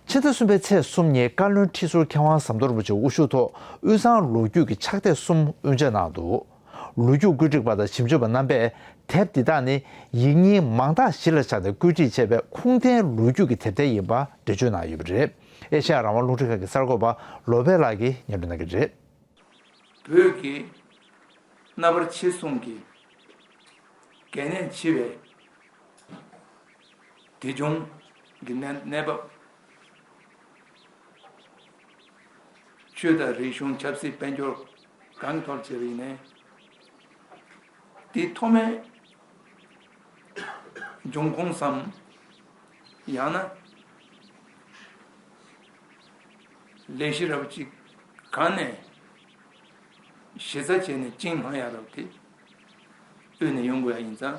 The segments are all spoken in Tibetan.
ཕྱི་ཟླ་གསུམ་པའི་ཚེས་གསུམ་ཉིན་བཀའ་བློན་ཁྲི་ཟུར་མཁས་དབང་ཟམ་གདོང་རིན་པོ་ཆེ་དབུ་བཞུགས་ཐོག་དབུས་གཙང་ལོ་རྒྱུས་ཀྱི་ཕྱག་དེབ་གསུམ་དབུ་འབྱེད་གནང་འདུག་ལོ་རྒྱུས་བཀོད་སྒྲིག་པ་དང་ཞིབ་འཇུག་པ་རྣམ་པས་དེབ་འདི་དག་ནི་ཡིག་རྙིང་མང་དག་གཞི་ལ་བཞག་སྟེ་བཀོད་སྒྲིག་བྱས་པའི་ཁུངས་ལྡན་ལོ་རྒྱུས་ཀྱི་དེབ་ཐེར་ཡིན་པ་འགྲེལ་བརྗོད་གནང་ཡོད་པ་རེད། ཨེ་ཤ་ཡ་རང་དབང་རླུང་འཕྲིན་ཁང་གི་གསར་འགོད་པ་ལོ་པད་ལགས་ཀྱིས་སྙན་སྒྲོན་གནང་གི་རེད། བོད་ཀྱི་རྣ་བར་ཆེ་གསུང་གི་གལ་གནད་ཆེ་བའི། དགེ་སྦྱོང་གི་གནས་བབ། ཆོས་དང་རིག་གཞུང་ཆབ་སྲིད་དཔལ་འབྱོར་གང་ཐོབ་བྱས་པ་ཡིན། དེའི་ཐོག་མའི་འབྱུང་ཁུངས་སམ། ཡང་ན། ལས་གཞི་རབ་ཅིག་གང་ནས་གཞི་རྩ་བྱས་ནས་བཅིངས་སྣང་ཡ་རབས་དེ་དབུས་ནས་ཡོང་དགོས་ཡ་ཡིན་ཙང།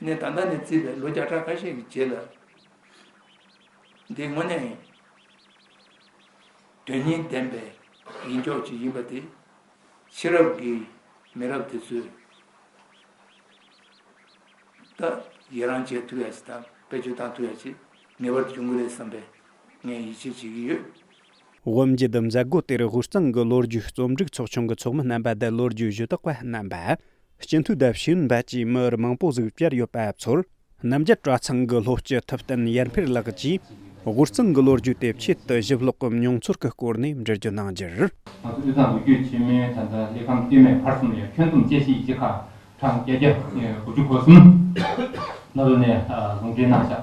ནས་ད་ལྟ་ནས་བརྩིས་པའི་ལོ་བརྒྱ་ཕྲག་ཁ་ཤས་ཀྱི་རྗེས་ལ། འདི་དངོས་གནས་དོན་སྙིང་ལྡན་པའི་ཡིན་ཀྱོག་ཅིག་ཡིན་པ་དེ་ཕྱི་རབས་ཀྱི་མི་རབས་དེ་ཚོས་ད་ཡི་རང་བྱེད་ཐུབ་ཡ་ཆེ་དང་བེད་སྤྱོད་བཏང་ཐུབ་ཡ་ཆེ་ངེས་པར་འབྱུང་གི་རེད་བསམ་པའི་ངས་ཡིད་ཆེས་བྱེད་ཀྱི་ཡོད། དབུ་འབྱེད་དུ་མཛད་སྒོ་དེར་དབུས་གཙང་གི་ལོ་རྒྱུས་རྩོམ་སྒྲིག་ཚོགས་ཆུང་གི་ཚོགས་མི་རྣམ་པ་དང་ལོ་རྒྱུས་གཞི་བདག་པ་རྣམ་པ། སྤྱི་འཐུས་དང་ཞིང་ཨུའི་འབའ་ཅིག་མི་རེ་མང་པོ་གཟིགས་བཅར་ཡོད་པ་ཚོར་རྣམ་རྒྱལ་གྲྭ་ཚང་གི་ལྷོ་སྤྱི་ཐུབ་བསྟན་ཡར་འཕེར་ལགས་ཀྱིས་དབུས་གཙང་གི་ལོ་རྒྱུས་དེབ་ཆེད་དུ་ཞིབ་ཀློག་གམ་མྱོང་ཚོར་གྱི་སྐོར་ནས་འབྲེལ་བརྗོད་གནང་རྒྱུར། ང་ཚོ་དབུས་གཙང་ལོ་རྒྱུས་ཆེན་མོའི་དོན་དུ་གླེགས་བམ་དཀྱུས་མའི་བར་གསུམ་ཡང་ཁྱོན་བསྡོམས་དཔྱད་གཞིའི་གཅིག་ཁ་གྲངས་བརྒྱད་བརྒྱ་དགུ་བཅུ་གོ་གསུམ། ནོར་བུ་ནས་ཟུང་འབྲེལ་གནང་བཞག་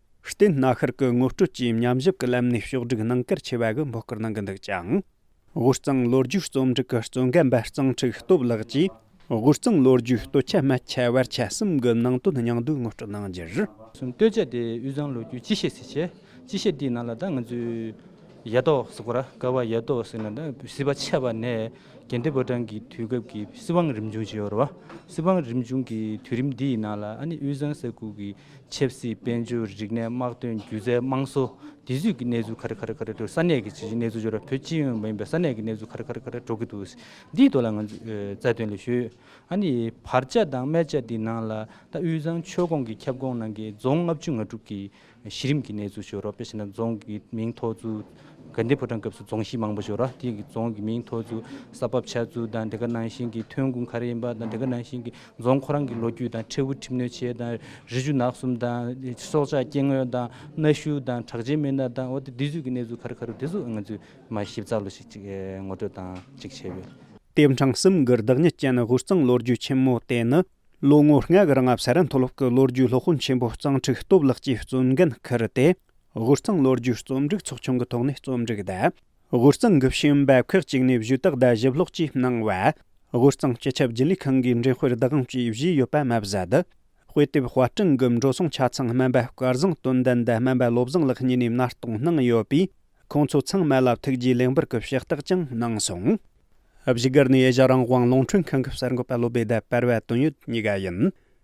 བསྟེན་སྣ་ཤར་གྱི་ངོ་སྤྲོད་ཀྱིས་མཉམ་བཞག་གི་ལམ་ནས་ཕྱོགས་བསྒྲིགས་གནང་སྐར་ཆེ་བ་གི་འབོད་སྐུལ་གནང་གི་འདུག་ཅིང། དབུས་གཙང་ལོ་རྒྱུས་རྩོམ་སྒྲིག་གི་གཙོ་འགན་འབའ་གཙང་འཁྲིག་སྟོབས་ལགས་ཀྱིས་དབུས་གཙང་ལོ་རྒྱུས་སྟོད་ཆ་སྨད་ཁྱད་བར་ཆ་གསུམ་གྱི་ནང་དོན་སྙིང་བསྡུས་ངོ་སྤྲོད་གནང་རྒྱུར། གསུམ། སྟོད་ཆ་དེ་དབུས་གཙང་ལོ་རྒྱུས་སྤྱི་བཤད་ཟེར། སྤྱི་བཤད་དེའི་ནང་ལ་ད་ང་ཚོའི་ཡ་ཐོག་ཟེར་གོ་ར་ཀ་བ་ཡ་ཐོག་ཟེར་ན་ད་སྲིད་པ་ཆད་པ་ནས་རྒྱལ་འདོད་ཕོ་བྲང་གི་དུས་སྐབས་ཀྱི་སྲིད་དབང་རིམ་བྱུང་བྱས་ཡོད་རེད་བ། སྲིད་དབང་རིམ་བྱུང་གི་དུས་རིམ་འདི་ཡི་ནང་ལ་ཨ་ནི་དབུས་གཙང་ས་ཁུལ་གྱི་ཆབ་སྲིད་དཔལ་འབྱོར་རིག་གནས་དམག་དོན་སྒྱུ་རྩལ་དམངས་སྲོལ་དེ་ཚུད་ཀྱི་གནས་ཚུལ་ག་རེ་ག་རེ་ག་རེ་འགྲོ་ས་གནས་ཀྱི་ཇི་ཆིའི་གནས་ཚུལ་འབྱོར་བ་བོད་སྤྱི་ཡོངས་མ་ཡིན་པའི་ས་གནས་ཀྱི་གནས་ཚུལ་ག་རེ་ག་རེ་ག་རེ་འགྲོ་གི་འདུག་འདིའི་ཐོག་ལ་ང་ཚོས་རྩ་དོན་ལས་ཞུ་ཨ་ནི་བར་ཆ་དང་སྨད་ཆ་འདི་ནང་ལ་ད་དབུས་གཙང་ཆོལ་ཁོངས་ཀྱི་ཁྱབ་ཁོངས་ནང་གི་རྫོང་ལྔ་བཅུ་ང་དྲུག་གི་གཞི་རིམ་གྱི་གནས་ཚུལ་ཤོད་རོགས་དཔེ་བཞིན་ན་རྫོང་གི་མིང་ཐོགས་ཚུལ་དགའ་ལྡན་ཕོ་བྲང་སྐབས་སུ་རྫོང་གཞི་མང་པོ་ཤོད་རོགས་དེ་ཡི་རྫོང་གི་མིང་ཐོགས་ཚུལ་ས་བབ་ཆགས་ཚུལ་དང་དེ་ག་ནང་བཞིན་གྱི་ཐོན་ཁུངས་ག་རེ་ཡིན་པ་དང་དེ་ག་ནང་བཞིན་གྱི་རྫོང་ཁོ་རང་གི་ལོ་རྒྱུས་དང་ཁྲལ་འུ་ཁྲིམས་གནོད་བྱེད་དང་རི་ཆུ་ནགས་གསུམ་དང་སྲོག་ཆགས་སྐྱེ་དངོས་དང་གནའ་ཤུལ་དང་གྲགས་ཅན་མི་སྣ་དང་འོ་དེ་དུས་ཚོད་ཀྱི་གནས་ཚུལ་ག་རེ་ག་རེ་རེད་དེ་ཚོ་ང་ཚོས་མ་ཞིབ་ཚགས་ལོ་ཞིག་ཅིག་ངོ་སྤྲོད་དང་ཅིག་བྱས་ཡོད། དེབ་འཕྲང་གསུམ་གྱི་བདག་ཉིད་ཅན་དབུས་གཙང་ལོ་རྒྱུས་ཆེན་མོ་དེ་ནི་ལོ་ངོ་ལྔ་གི་རིང་ཨབ་སཱ་ར་མཐོ་སློབ་ཀྱི་ལོ་རྒྱུས་སློབ་དཔོན་ཆེན་པོ་གཙང་ཕྲུག་སྟོབས་ལགས་ཀྱིས་གཙོ་འགན་འཁུར་ཏེ་དབུས་གཙང་ལོ་རྒྱུས་རྩོམ་སྒྲིག་ཚོགས་ཆུང་གི་ཐོག་ནས་རྩོམ་སྒྲིག་གདབ། དབུས་གཙང་གི་ཤེས་ཡོན་འབབ་ཁག་ཅིག་ནས་བཞུགས་སྟག་རྡ་ཞིབ་ཀློག་ཅེས་གནང་བ། དབུས་གཙང་སྤྱི་ཁྱབ་རྒྱུན་ལས་ཁང་གི་འབྲེལ་དཔེར་བདག་དབང་བཅས་བཞེས་ཡོད་པ་མ་ཟད། དཔེ་དེབ་དཔར་སྐྲུན་གྱི་འགྲོ་སོང་ཆ་ཚང་སྨན་པ་སྐལ་བཟང་དོན་ལྡན་དང་སྨན་པ་བློ་བཟང་ལགས་གཉིས་ནས་མནར་གཏོང་གནང་ཡོད་པས་ཁོང་ཚོ་ཚང་མ་ལ་ཐུགས་རྗེ་ལེགས་འབུལ་གྱི་ཕྱག་རྟགས་ཀྱང་གནང་སོང། བཞུགས་སྒར་ནས་ཨེ་ཤ་རང་དབང་རླུང་འཕྲིན་ཁང་གི་གསར་འགོད་པ་བློ་བདེ་ཟླ་དཔལ་བ་དོན་ཡོད་གཉིས་ཀ་ཡིན།